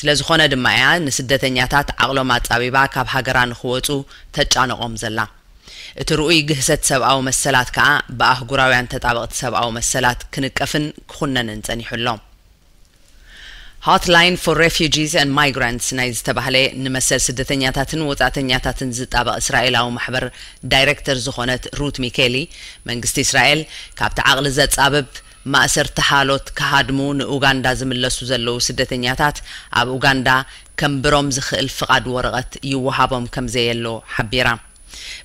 A: ስለዝኾነ ድማ እያ ንስደተኛታት ዓቕሎም ኣጻቢባ ካብ ሃገራ ንክወጹ ተጫንቖም ዘላ። እቲ ርኡይ ግህሰት ሰብኣዊ መሰላት ከኣ ብኣህጉራውያን ተጣበቕቲ ሰብኣዊ መሰላት ክንቀፍን ክኹነንን ጸኒሑ ኣሎ። Hotline for Refugees and Migrants ናይ ዝተባህለ ንመሰል ስደተኛታትን ወጻእተኛታትን ዝጣበቕ እስራኤላዊ ማሕበር ዳይረክተር ዝኾነት ሩት ሚኬሊ፣ መንግስቲ እስራኤል ካብቲ ዓቕሊ ዘጻብብ፣ ማእሰርቲ ሓሎት ክሃድሙ ንኡጋንዳ ዝምለሱ ዘለዉ ስደተኛታት ኣብ ኡጋንዳ ከንብሮም ዝኽእል ፍቓድ ወረቐት ይወሃቦም ከምዘየሎ ሓቢራ።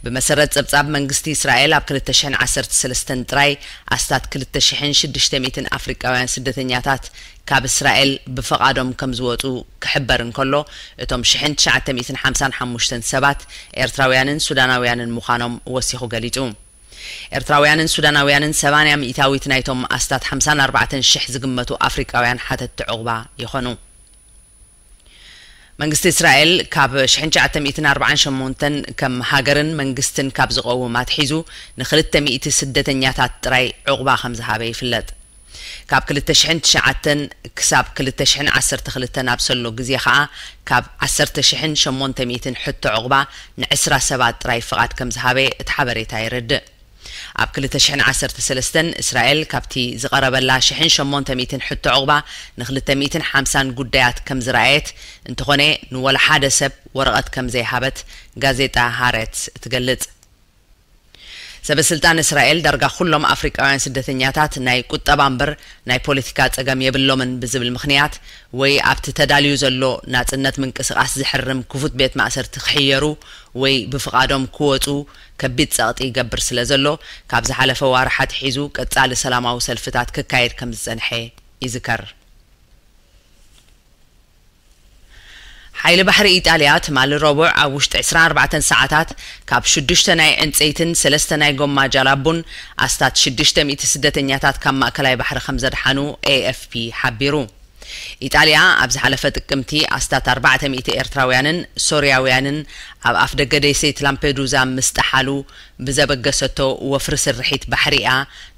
A: ብመሰረት ጸብጻብ መንግስቲ እስራኤል ኣብ ክልተ ሽሕን ዓሰርተ ሰለስተን ጥራይ ኣስታት ክልተ ሽሕን ሽዱሽተ ሚእትን ኣፍሪቃውያን ስደተኛታት ካብ እስራኤል ብፍቓዶም ከምዝወጹ ክሕበር እንከሎ እቶም ሽሕን ትሽዓተ ሚእትን ሓምሳን ሓሙሽተን ሰባት ኤርትራውያንን ሱዳናውያንን ምዃኖም ወሲኹ ገሊጹ። ኤርትራውያንን ሱዳናውያንን ሰማንያ ሚኢታዊት ናይቶም ኣስታት ሓምሳን ኣርባዕተን ሽሕ ዝግመቱ ኣፍሪቃውያን ሓተትቲ ዑቕባ ይኾኑ። መንግስቲ እስራኤል ካብ ሽሕን ትሽዓተ ሚእትን ኣርብዓን ሸሞንተን ከም ሃገርን መንግስትን ካብ ዝቐውም ኣትሒዙ ንክልተ ሚእቲ ስደተኛታት ጥራይ ዑቕባ ከምዝሃበ ይፍለጥ። ካብ ክልተ ሽሕን ትሽዓተን ክሳብ ክልተ ሽሕን ዓሰርተ ክልተን ኣብ ሰሎ ግዜ ከኣ ካብ ዓሰርተ ሽሕን ሸሞንተ ሚእትን ሕቶ ዑቕባ ንዕስራ ሰባት ጥራይ ፍቓድ ከም ዝሃበ እቲ ሓበሬታ የረድእ። ኣብ ክልተ ሽሕን ዓሰርተ ሰለስተን እስራኤል ካብቲ ዝቐረበላ ሽሕን ሸሞንተ ሚእትን ሕቶ ዑቕባ ንክልተ ሚእትን ሓምሳን ጉዳያት ከም ዝረኣየት እንተኾነ ንወላ ሓደ ሰብ ወረቐት ከም ዘይሃበት ጋዜጣ ሃረትዝ ትገልጽ። ሰበስልጣን እስራኤል ዳርጋ ኩሎም ኣፍሪቃውያን ስደተኛታት ናይ ቁጠባ እምበር ናይ ፖለቲካ ጸገም የብሎምን ብዝብል ምኽንያት ወይ ኣብቲ ተዳልዩ ዘሎ ናጽነት ምንቅስቓስ ዝሕርም ክፉት ቤት ማእሰርቲ ክሕየሩ ወይ ብፍቓዶም ክወጹ ከቢድ ጸቕጢ ይገብር ስለዘሎ ካብ ዝሓለፈ ዋርሕ ኣትሒዙ ቀጻሊ ሰላማዊ ሰልፍታት ክካየድ ከምዝጸንሐ ይዝከር። ሓይሊ ባሕሪ ኢጣልያ ትማሊ ረቡዕ ኣብ ውሽጢ ዕስራን ኣርባዕተን ሰዓታት ካብ ሽዱሽተ ናይ ዕንጸይትን ሰለስተ ናይ ጎማ ጃላቡን ኣስታት ሽዱሽተ ሚእቲ ስደተኛታት ካብ ማእከላይ ባሕሪ ከምዘድሓኑ ኤኤፍፒ ሓቢሩ። ኢጣልያ ኣብ ዝሓለፈ ጥቅምቲ ኣስታት ኣርባዕተ ሚእቲ ኤርትራውያንን ሶርያውያንን ኣብ ኣፍደገ ደሴት ላምፔዱዛ ምስ ጠሓሉ ብዘበገሰቶ ወፍሪ ስርሒት ባሕሪ'ያ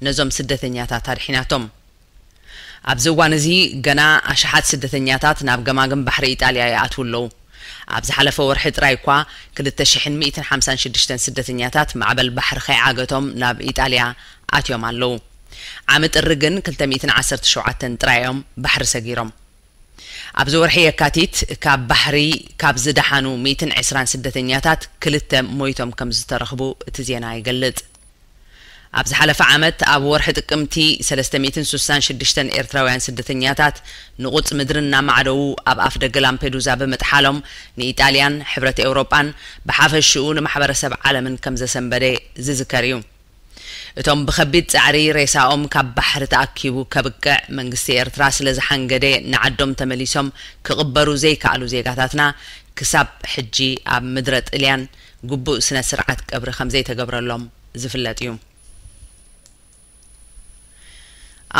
A: ነዞም ስደተኛታት ኣድሒናቶም። ኣብዚ እዋን እዚ ገና ኣሽሓት ስደተኛታት ናብ ገማግም ባሕሪ ኢጣልያ ይኣትዉ ኣለዉ። ኣብ ዝሓለፈ ወርሒ ጥራይ እኳ ክልተ ሽሕን ሚእትን ሓምሳን ሽዱሽተን ስደተኛታት ማዕበል ባሕሪ ከይዓገቶም ናብ ኢጣልያ ኣትዮም ኣለዉ። ዓሚ ጥሪ ግን ክልተ ሚእትን ዓሰርተ ሸውዓተን ጥራይ እዮም ባሕሪ ሰጊሮም። ኣብዚ ወርሒ የካቲት ካብ ባሕሪ ካብ ዝደሓኑ ሚእትን ዕስራን ስደተኛታት ክልተ ሞይቶም ከምዝተረኽቡ እቲ ዜና ይገልጽ። ኣብ ዝሓለፈ ዓመት ኣብ ወርሒ ጥቅምቲ ሰለስተ ሚእትን ስሳን ሽዱሽተን ኤርትራውያን ስደተኛታት ንቑጽ ምድሪ እናማዕደዉ ኣብ ኣፍደገ ላምፔዱዛ ብምጥሓሎም ንኢጣልያን ሕብረት ኤውሮጳን ብሓፈሽኡ ንማሕበረሰብ ዓለምን ከምዘሰንበደ ዝዝከር እዩ። እቶም ብከቢድ ጸዕሪ ሬሳኦም ካብ ባሕሪ ተኣኪቡ ከብቅዕ መንግስቲ ኤርትራ ስለ ዝሓንገደ ንዓዶም ተመሊሶም ክቕበሩ ዘይከኣሉ ዜጋታትና ክሳብ ሕጂ ኣብ ምድረ ጥልያን ግቡእ ስነ ስርዓት ቀብሪ ከምዘይተገብረሎም ዝፍለጥ እዩ።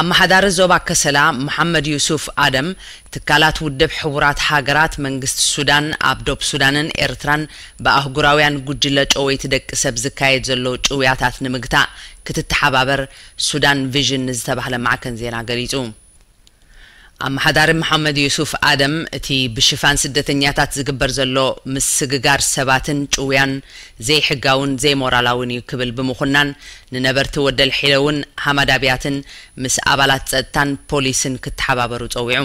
A: ኣመሓዳሪ ዞባ ከሰላ መሓመድ ዩሱፍ ኣደም፣ ትካላት ውድብ ሕቡራት ሃገራት፣ መንግስቲ ሱዳን፣ ኣብ ዶብ ሱዳንን ኤርትራን ብኣህጉራውያን ጉጅለ ጨወይቲ ደቂ ሰብ ዝካየድ ዘሎ ጭውያታት ንምግታእ ክትተሓባበር ሱዳን ቪዥን ንዝተባህለ ማዕከን ዜና ገሊጹ። ኣመሓዳሪ መሓመድ ዩሱፍ ኣደም፣ እቲ ብሽፋን ስደተኛታት ዝግበር ዘሎ ምስግጋር ሰባትን ጭውያን ዘይሕጋውን ዘይሞራላውን እዩ ክብል ብምኹናን፣ ንነበርቲ ወደልሒለውን ሃማድ ኣብያትን ምስ ኣባላት ጸጥታን ፖሊስን ክተሓባበሩ ጸዊዑ።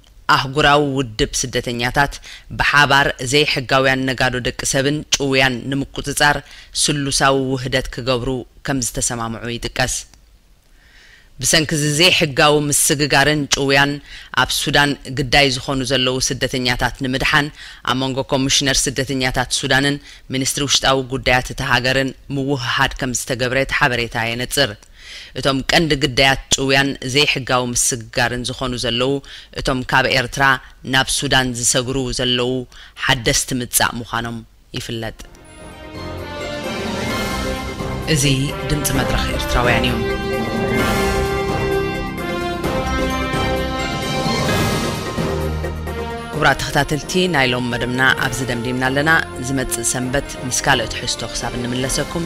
A: ኣህጉራዊ ውድብ ስደተኛታት ብሓባር ዘይሕጋውያን ነጋዶ ደቂ ሰብን ጭውያን ንምቁጽጻር ስሉሳዊ ውህደት ክገብሩ ከምዝተሰማምዑ ይጥቀስ። ብሰንኪ'ዚ ዘይሕጋዊ ምስግጋርን ጭውያን ኣብ ሱዳን ግዳይ ዝኾኑ ዘለዉ ስደተኛታት ንምድሓን ኣብ መንጎ ኮሚሽነር ስደተኛታት ሱዳንን ሚኒስትሪ ውሽጣዊ ጉዳያት እታ ሃገርን ምውህሃድ ከምዝተገብረ እቲ ሓበሬታ የነጽር። እቶም ቀንዲ ግዳያት ጭውያን ዘይሕጋዊ ምስግጋርን ዝኾኑ ዘለዉ እቶም ካብ ኤርትራ ናብ ሱዳን ዝሰግሩ ዘለዉ ሓደስቲ ምጻእ ምዃኖም ይፍለጥ። እዚ ድምጺ መድረኽ ኤርትራውያን እዩ። ክቡራት ተኸታተልቲ ናይ ሎም መደብና ኣብዚ ደምዲምና ኣለና። ዝመጽእ ሰንበት ምስ ካልእ ትሕዝቶ ክሳብ እንምለሰኩም